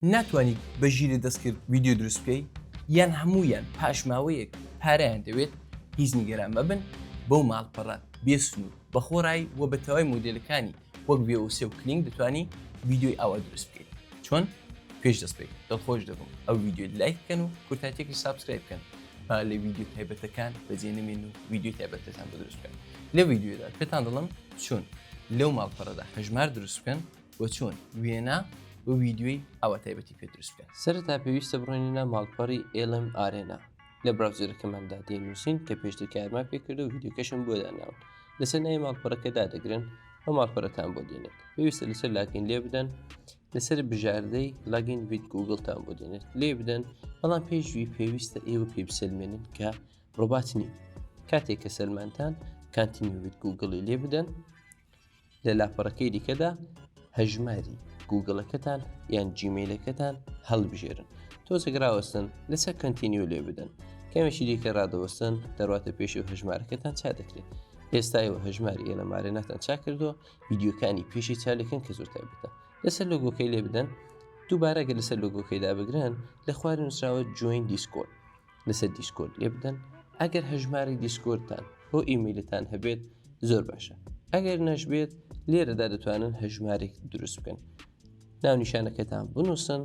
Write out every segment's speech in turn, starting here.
ناتوانی بە ژیری دەستکرد ویددیو دروست بکەی یان هەموویان پاشماوەیەک پارەیان دەوێت هیچ نیگەران مەبن بەو ماڵپەڕە بێسن و بەخۆڕایی و بە تەوای مۆدلەکانی وەک بێوسێ و کلینگ دەتوانی ویددیوی ئاوا دروست بکەیت چۆن پێش دەست بکەیت دڵخۆش دەبم ئەو ویددیو لایک بکەن و کورتاتێکی سابسکرایب بکەن با لە ویددیو تایبەتەکان بەجێ نمێن و ویددیو تایبەتەکان بە دروست بکەن لە ویددیودا پێتان دڵم چۆن لەو ماڵپەڕەدا هەژمار دروست بکەن و چۆن وێنا و ویددیوی ئەوە تایبەتی پێ دروست بکەن سەرتا پێویستە بڕێنە ماڵپەڕی ئێلم ئارێنا لە براوزەرەکەماندا دەینووسین کە پێشتر کارمان پێکردە و ویددیوکەشم بۆ داناون لەسەر ناوی ماڵپەرەکە دادەگرن ئەو ماڵپەرەتان بۆ دێنێت پێویستە لەسەر لاگەین لێ بدەن لەسەر بژاردەی لاگین ویت گوگلتان بۆ دێنێت لێ بدەن بەڵام پێشوی پێویستە ئێوە پێ بسەلمێنن کە ڕۆبات نین کاتێک کە سەلمانتان کانتینی ویت گوگڵی لێ بدەن لە لاپەڕەکەی دیکەدا هەژماری گوگڵەکەتان یان جیمەیلەکەتان هەڵبژێرن تۆزێک راوەستن لەسەر کەنتینیو لێ بدەن کەمێکی دیکە ڕادەوەستن دەڕاتە پێشی و هەژمارەکەتان چا دەکرێت ئێستای و هەژماری ئێلە مارێناتان چا کردو یددیوکانی پێشی چالەکەن کە زۆر تایبەتە لەسەر لۆگۆکەی لێ بدەن دووبارەگە لەسەر لۆگۆکەیدا بگرن لە خوارد نووسراوە جوین دیسکۆن لەسەر دیسکۆرد لێ بدەن ئەگەر هەژماری دیسکۆردتان بۆ ئیمیلتان هەبێت زۆر باشە ئەگەر نەشبێت لێرەدا دەتوانن هەژمارێک دروست بکەن ناونیشانەکەتان بنووسن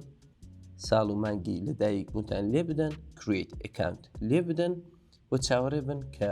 ساڵ و مانگی لەدایک بوونتان لێ بدەن کریت ئەکانت لێ بدەن و چاوەڕێ بن کە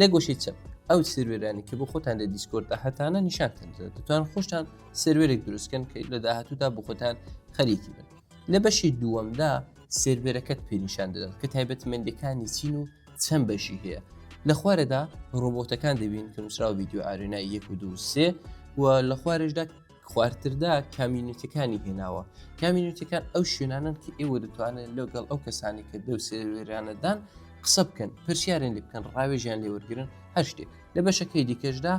لە گۆشەی چەپ ئەو سروێرانی کە بۆ خۆتان لە دیسکۆردا هەتانە نیشانتان دەتوان خۆشتان سروێرێک دروستکەن کە لە داهاتوودا بۆ خۆتان خەریکی بن لە بەشی دووەمدا سروێرەکەت پێنیشان دەدات کە تایبەتمەندەکانی چین و چەند بەشی هەیە لە خوارەدا ڕۆبۆتەکان دەبین کە نووسراو ویددیو ئارێنای یەک و دوو سێ و لە خوارشدا خوارتردا کامیونیتەکانی هێناوە کامیونیتەکان ئەو شوێنانن کە ئێوە دەتوانن لەگەڵ ئەو کەسانی کە دەو سێوێرانەدان قسە بکەن پرسیارن لێ بکەن ڕاوێژیان لێوەرگن هەر شتێک لە بەشەکەی دیکەشدا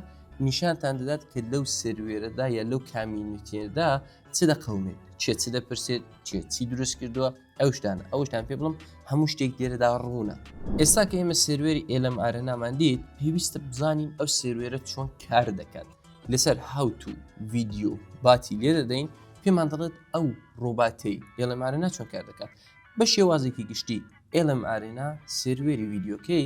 نیشانتان دەدات کە لەو سروێرەدا یا لەو کامیونیتێدا چ دەقومێت چێ چ دەپرسێت چێ چی دروست کردووە ئەو شتان ئەو شتان پێ بڵم هەموو شتێک دێرەدا ڕوونە ئێستا کە ئێمە سێروێری ئێلم ئارەنامان دیت پێویستە بزانین ئەو سێروێرە چۆن کار دەکات لەسەر هاوت و ڤیددیو باتی لێ دەدەین پێمان دەڵێت ئەو ڕۆباتەی ئێلم ئارەنا چۆن کار دەکات بە شێوازێکی گشتی ئێلم ئارێنا سێروێری ڤیددیوکەی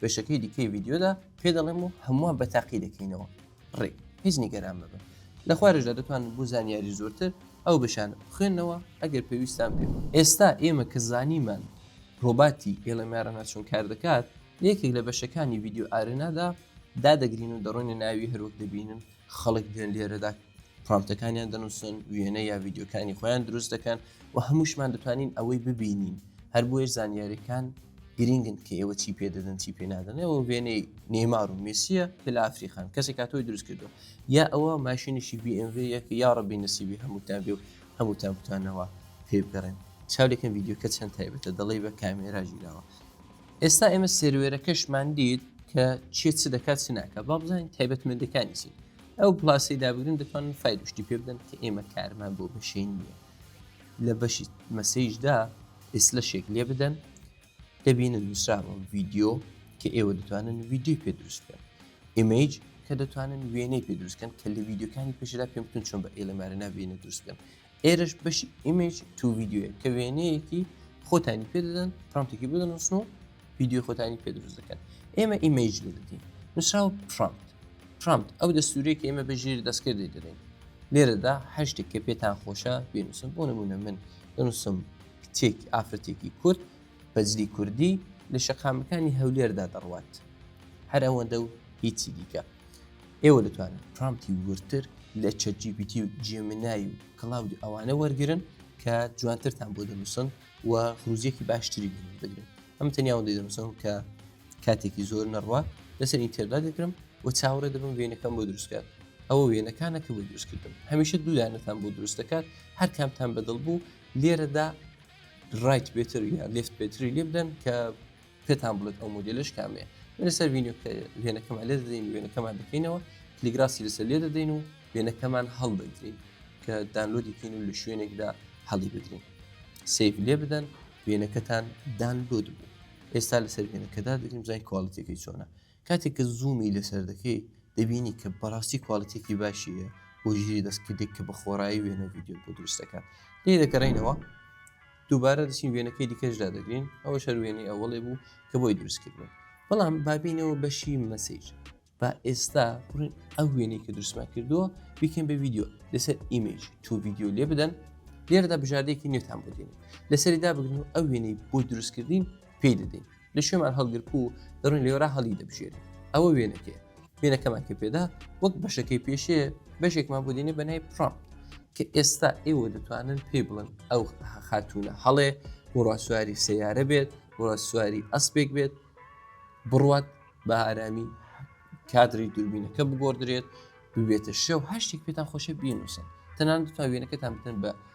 بەشەکەی دیکەی ڤیددیۆدا پێ دەڵێم و هەمووان بە تاقی دەکەینەوە ڕێک هیچ نیگەران ببن لە خوارشدا دەتوان بۆ زانیاری زۆرتر ئەو بشانە بخوێنەوە ئەگەر پێویستان پێ ئێستا ئێمە کە زانیمان ڕۆباتی ئێڵەمارەنا چۆن کار دەکات یەکێک لە بەشەکانی ڤیددیو ئارێنادا دادەگرین و دەڕۆینە ناوی هەروەک دەبینن خەڵک دێن لێرەدا پرامتەکانیان دەنووسن وێنە یا ڤیددیوکانی خۆیان دروست دەکەن و هەمووشمان دەتوانین ئەوەی ببینین هەر بۆیە زانیاریەکان گرنگن کە ئێوە چی پێ دەدەن چی پێ نادەنەوە وێنەی نێمار و میسیە کە لە ئافریخان کەسێک کاتۆی دروست کردو یا ئەوە ماشینیشی BMV یەکە یا ڕبی نسیبی هەمووتان بێ و هەمووتان بتوانەوە پێ بگەڕێن چاولێکم یددیوکە چەند تایبەتە دەڵی بە کامێرا ژیراوە ئێستا ئێمە سێروێرەکەشمان دیت کە چێت چ دەکات چ ناکە با بزانین تایبەتمەندەکانی چین ئەو پلاسی دابگرن دەتوانن فایدشتی پێ بدەن کە ئێمە کارمان بۆ بەشین نیە لە بەشی مەسەیشدا ئیسلە شێک لێ بدەن دەبینن نووسراوە ڤیددیو کە ئێوە دەتوانن ویددیو پێ دروست بکەن ئیمەیج کە دەتوانن وێنەی پێ دروستکەن کە لە ویددیوکانی پێشدا پێمتون چۆن بە ئێلەمارە ناوێنە دروستکەن ئێرەش بەشی ئیمج تو ویددیوە کە وێنەیەکی خۆتانی پێ دەدەن پرامتێکی بۆ دەنووسن و ویددیو خۆتانی پێ دروست دەکەن ئێمە ئیمج لێ دەدەین نووسراوە پرامت پرامت ئەو دەستورێک ئێمە بە ژێر دەستکرد دەی دەدەین لێرەدا هەشتێک کە پێتان خۆشە بێنووسم بۆ نمونە من دەنووسم کچێک ئافرەتێکی کورد بەجلی کوردی لە شەقامەکانی هەولێردا دەڕوات هەر ئەوەندە و هیچی دیکە ئێوە دەتوانن پرامتی ورتر لە چەجیبیتی و جێمنای و کەڵاود ئەوانە وەرگن کە جوانترتان بۆ دەنووسن و خروزیەکی باشتری بگرن ئەم تەنیاوە دەنووسن کە کاتێکی زۆر نەڕوە لەسەر ئینتێردا دەگرم و چاوەڕێ دەبم وێنەکەم بۆ دروستکات ئەوە وێنەکانە کە بۆ دروستکردم هەمیشە دوودانەتان بۆ دروست دەکات هەر کامتان بەدڵ بوو لێرەدا ڕایت بێتر یا لفت بێتری لێ بدەن کە پێتان بڵێت ئەو مۆدیلش کامێ لەسەر وینیۆ کە وێنەکەمان لێ دەدەین وێنەکەمان دەکەینەوە تلیگراسی لەسەر لێ دەدەین و وێنەکەمان هەڵدەگرین کە دانلۆدی کەین و لە شوێنێکدا هەڵی بدرین سیف لێ بدەن وێنەکەتان دانلۆد بوو ئێستا لەسەر وێنەکەدا دەگریم زای کوالڵەتەکەی چۆنە کاتێک کە زوومی لەسەر دەکەی دەبینی کە بەڕاستی کواڵیتێکی باشی هەیە بۆ ژیری دەستکردێک کە بە خۆڕایی وێنە ڤیددیو بۆ دروست دەکات لێ دەکەڕینەوە دووبارە دەچین وێنەکەی دیکەشدا دەگرین ئەوە شەر وێنەی ئەوڵێ بوو کە بۆی دروستکردن بەڵام بابینەوە بەشی مەسیج با ئێستا بڕین ئەو وێنەی کە دروستمان کردووە بیکەین بە ویددیو لەسەر ئیمەج تو ویددیو لێ بدەن لێرەدا بژاردێکی نوێتان بۆ دێنین لەسەریدا بگرن و ئەو وێنەی بۆی دروستکردین پێی دەدەین لە شوێمان هەڵگرک و دەڕوین لێرا هەڵی دەبژێری ئەوە وێنەکەێ وێنەکەمان کە پێدا وەک بەشەکەی پێشێ بەشێکمان بۆ دێنێ بەنای پرام کە ئێستا ئێوە دەتوانن پێی بڵن ئەو خاتونە هەڵێ وڕاسواری سیارە بێت وڕاسواری ئەسپێک بێت بڕوات بە ئارامی کادری دوربینەکە بگۆدرێت ببێتە شێو هەشتێک پێتان خۆشە بینوسن تەنان دەتوان وێنەکەتان بتن بە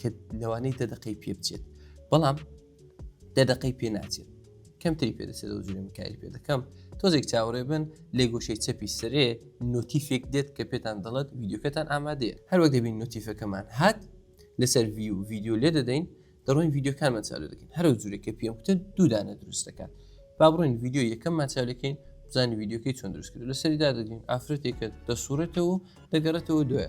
کە لەوانەی دە دقەی پێ بچێت بەڵام دە دقەی پێ ناچێت کەمتری پێدەچێت و جوێن کاری پێ دەکەم تۆزێک چاوەڕێ بن لێ گۆشەی چەپی سرێ نوتیفێک دێت کە پێتان دەڵێت ویددیوکەتان ئامادەیە هەروەک دەبین نوتیفەکەمان هات لەسەر وی و ویددیو لێ دەدەین دەڕۆین ویددیوکانمان چاو دەکەین هەرو جوورێک کە پێم وتن دوودانە دروست دەکات با بڕۆین ویددیو یەکەممان چاو دەکەین بزانانی ویددیوکەی چۆن دروست کرد لەسەری دادەگرین ئافرەتێکە دەسوڕێتەوە دەگەڕێتەوە دوێ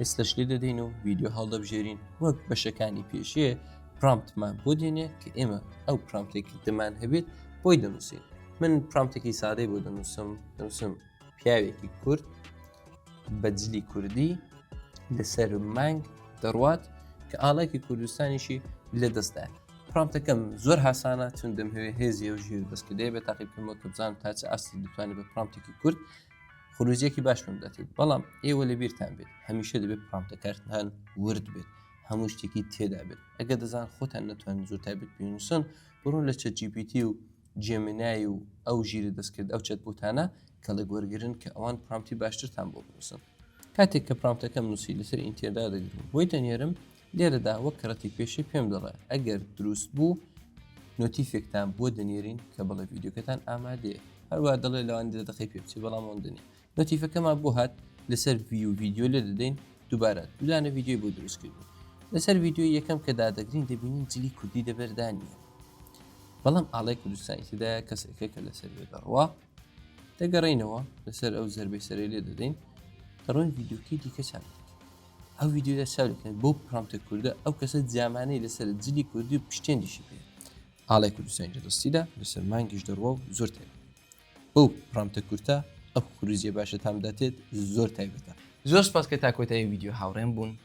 ئێستش لێ دەدەین و ویددیو هەڵدەبژێرین وەک بەشەکانی پێشێ پرامتمان بۆ دێنێ کە ئێمە ئەو پرامتێکی دەمان هەبێت بۆی دەنووسین من پرامتێکی سادەی بۆ دەنووسم دەنووسم پیاوێکی کورد بەجلی کوردی لەسەر مانگ دەڕوات کە ئاڵێکی کوردستانیشی لە دەستدا پرامتەکەم زۆر هاسانە چون دەمهوێ هێزی و ژیر دەستکردێ بە تاقیبکەمەوە کە بزان تا چ ئاستی دەتوانێت بە پرامتێکی کورد خروجێکی باشم دەتێت بەڵام ئێوە لە بیرتان بێت هەمیشە دەبێت پرامتەکارتان ورد بێت هەموو شتێکی تێدا بێت ئەگە دەزان خۆتان نەتوان زۆر تابێت پێنووسن بڕۆ لە چە جیپیتی و جێمنای و ئەو ژیرە دەستکرد ئەو چەت بوتانە کەڵک وەرگن کە ئەوان پرامتی باشترتان بۆ بنووسن کاتێک کە پرامتەکەم نووسی لەسەر ئینتێدا دەگرم بۆی دەنێرم لێرەدا وەک کەڕەتی پێشێ پێم دەڵێ ئەگەر دروست بوو نۆتیفێکتان بۆ دەنێرین کە بڵێ ڤیددیوکەتان ئامادەیە هەروە دەڵێ لەوان دە دەقی پێ بچێ بەڵام ئەوەندنی نۆتیفەکەمان بۆ هات لەسەر وی و ڤیددیو لێ دەدەین دووبارە دوودانە ڤیددیوی بۆ دروستکردن لەسەر ڤیددیو یەکەم کە دادەگرین دەبینین جلی کوردی دەبەردانە بەڵام ئاڵای کوردستانی تدا کەسێکە کە لەسەر بێ بڕوا دەگەڕێینەوە لەسەر ئەو زەربەی سەرەی لێ دەدەین دەڕۆین ڤیددیوکەی دیکەچان ئەو ویددیودا چاوکەن بۆ پرامتە کووردە ئەو کەسە جامانەی لەسەر جلی کوردی و پشتێندیشی پێ ئاڵای کوردستانی لە دەستیدا لەسەر مانگیش دەڕوە و زۆر تێ بەو پرامتە کورتە ئەو خروزیە باشە تامداتێت زۆر تایبەتە زۆر سپاس کە تاکۆتایی ویددیو هاوڕێن بوون